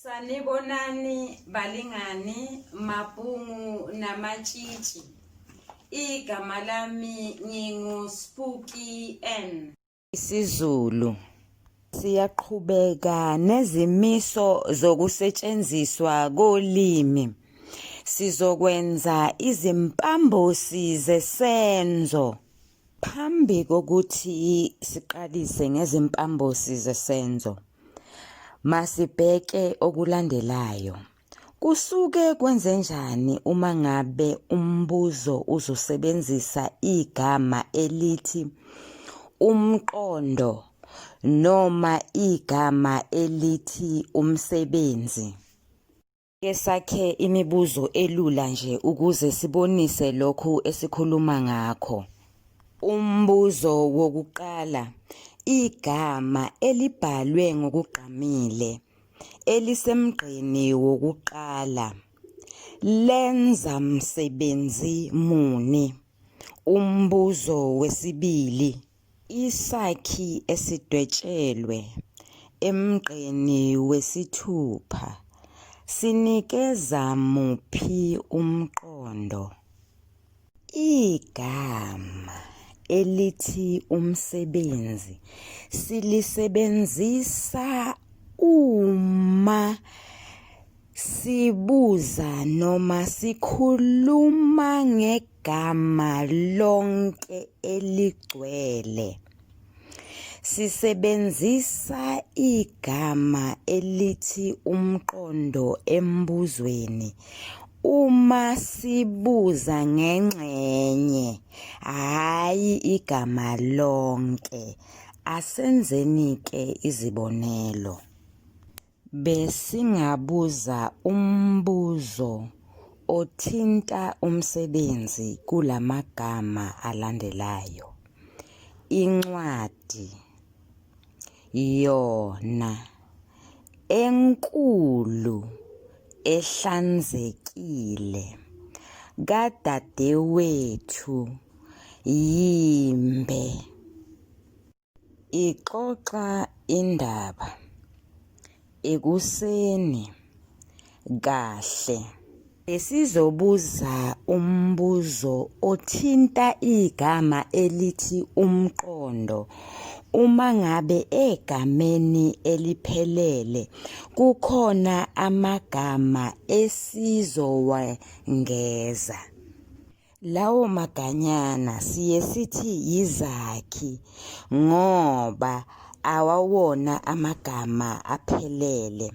Sanibonani balingani mabhungu namatshitshi igama lami ngingu Spooky N isiZulu siyaqhubeka nezimiso zokusetshenziswa kolimi sizokwenza izimpambosi zesenzo Phambi kokuthi siqalise ngezimpambosi zesenzo, masibheke okulandelayo. Kusuke kwenzenjani uma ngabe umbuzo uzosebenzisa igama elithi umqondo noma igama elithi umsebenzi? Ke sakhe imibuzo elula nje ukuze sibonise lokhu esikhuluma ngakho. Umbuzo wokuqala, igama elibhalwe ngokugqamile elisemgqeni wokuqala lenza msebenzi muni? Umbuzo wesibili, Isakhi esidwetshelwe emgqeni wesithupha sinikeza muphi umqondo? Igama elithi umsebenzi silisebenzisa uma Sibuza noma sikhuluma ngegama lonke eligcwele. Sisebenzisa igama elithi umqondo embuzweni uma sibuza ngengxenye, hhayi igama lonke. Asenzeni-ke izibonelo. Besingabuza umbuzo othinta umsebenzi kula magama alandelayo. Incwadi yona enkulu ehlanzekile kadadewethu yimbe. Ixoxa indaba ekuseni kahle. Besizobuza umbuzo othinta igama elithi umqondo. Uma ngabe egameni eliphelele kukhona amagama esizowengeza. Lawo maganyana siye sithi yizakhi ngoba awawona amagama aphelele.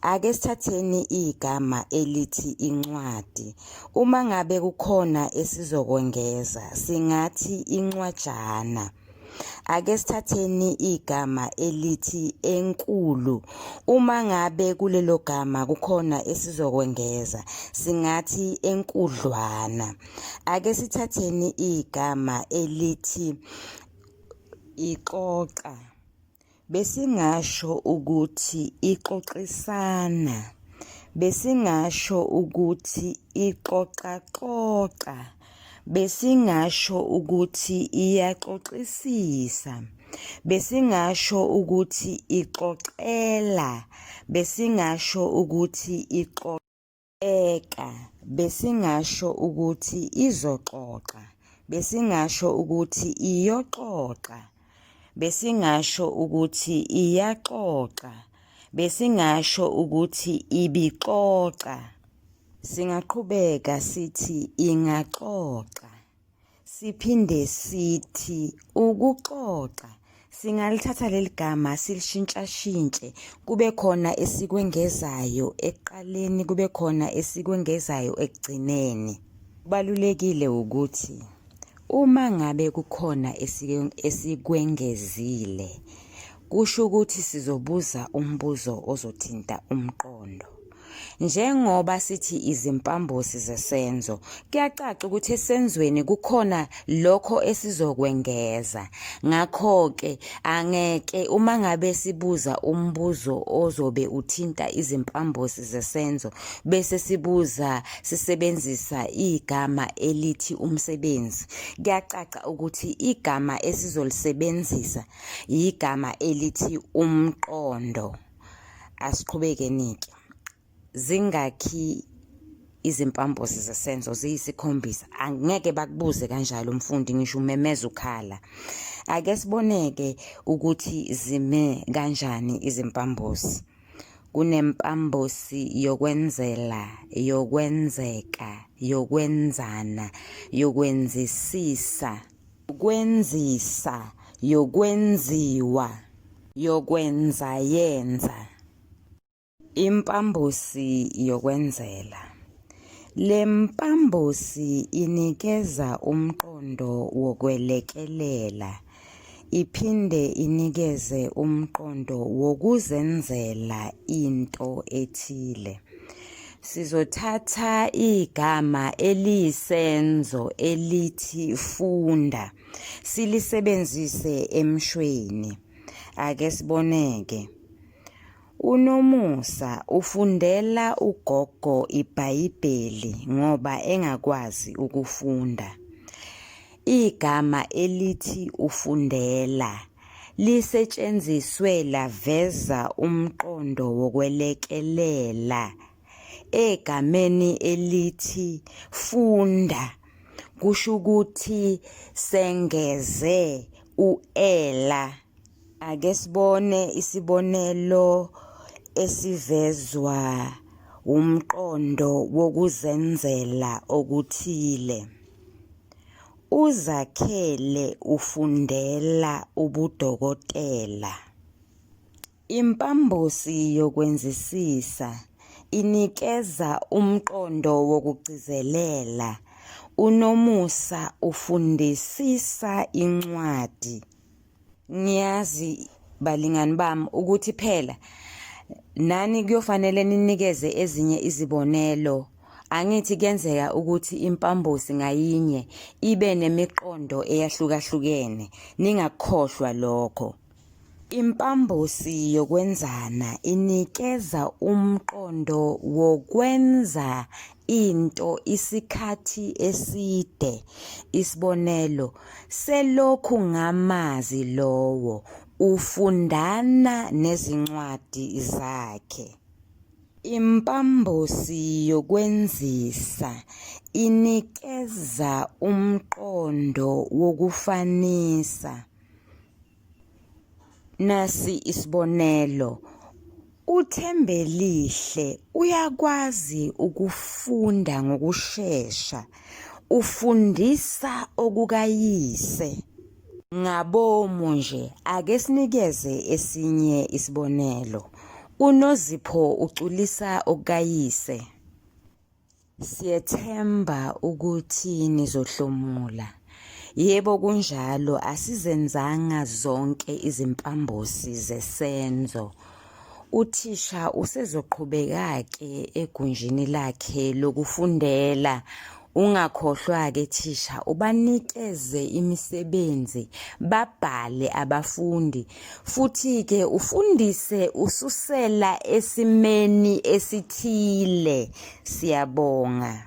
Ake sithatheni igama elithi incwadi. Uma ngabe kukhona esizokwengeza singathi incwajana. Ake sithatheni igama elithi enkulu. Uma ngabe kulelo gama kukhona esizokwengeza, singathi enkudlwana. Ake sithatheni igama elithi ixoxa. Besingasho ukuthi ixoxisana. Besingasho ukuthi ixoxaxoxa. Besingasho ukuthi iyaxoxisisa. Besingasho ukuthi ixoxela. Besingasho ukuthi ixoxa. Eka, besingasho ukuthi izoxoxa, besingasho ukuthi iyoxoxa, besingasho ukuthi iyaxoxa, besingasho ukuthi ibixoxa. Singaqhubeka sithi ingaxoxa. Siphinde sithi ukuxoxa singalithatha leli gama silishintshashintshe kube khona esikwengezayo ekuqaleni kube khona esikwengezayo ekugcineni. Kubalulekile ukuthi uma ngabe kukhona esikwengezile kusho ukuthi sizobuza umbuzo ozothinta umqondo. Njengoba sithi izimpambosi zesenzo, kuyacaca ukuthi esenzweni kukhona lokho esizokwengeza. Ngakho-ke, angeke uma ngabe sibuza umbuzo ozobe uthinta izimpambosi zesenzo bese sibuza sisebenzisa igama elithi umsebenzi, kuyacaca ukuthi igama esizolisebenzisa yigama elithi umqondo. asiqhubeke nike zingakhi izimpambosi zesenzo ziyisikhombisa angeke bakubuze kanjalo umfundi ngisho umemeza ukhala ake siboneke ukuthi zime kanjani izimpambosi kunempambosi yokwenzela yokwenzeka yokwenzana yokwenzisisa yokwenzisa yokwenziwa yokwenza yenza impambosi yokwenzela le mpambosi inikeza umqondo wokwelekelela iphinde inikeze umqondo wokuzenzela into ethile Sizothatha igama eliyisenzo elithi funda silisebenzise emshweni. Ake siboneke. UNomusa ufundela ugogo iBhayibheli ngoba engakwazi ukufunda. Igama elithi ufundela lisetshenziswe laveza umqondo wokwelekelela egameni elithi funda kusho ukuthi sengeze u-ela. Ake sibone isibonelo esivezwa wumqondo wokuzenzela okuthile. UZakhele ufundela ubudokotela. Impambosi yokwenzisisa inikeza umqondo wokugcizelela. UNomusa ufundisisa incwadi Ngiyazi balingani bami ukuthi phela nani kuyofanele ninikeze ezinye izibonelo angithi kuyenzeka ukuthi impambosi ngayinye ibe nemiqondo eyahlukahlukene ningakukhohlwa lokho impambosi yokwenzana inikeza umqondo wokwenza into isikhathi eside isibonelo selokhu ngamazi lowo ufundana nezincwadi zakhe Impambosi yokwenzisa inikeza umqondo wokufanisa. Nasi isibonelo, uThembelihle uyakwazi ukufunda ngokushesha, ufundisa okukayise. Ngabomu nje, ake sinikeze esinye isibonelo. UNozipho uculisa okukayise. Siyethemba ukuthi nizohlomula. Yebo kunjalo asizenzanga zonke izimpambosi zesenzo. Uthisha usezoqhubeka-ke egunjini lakhe lokufundela. Ungakhohlwa-ke thisha ubanikeze imisebenzi babhale abafundi futhi-ke ufundise ususela esimeni esithile. Siyabonga.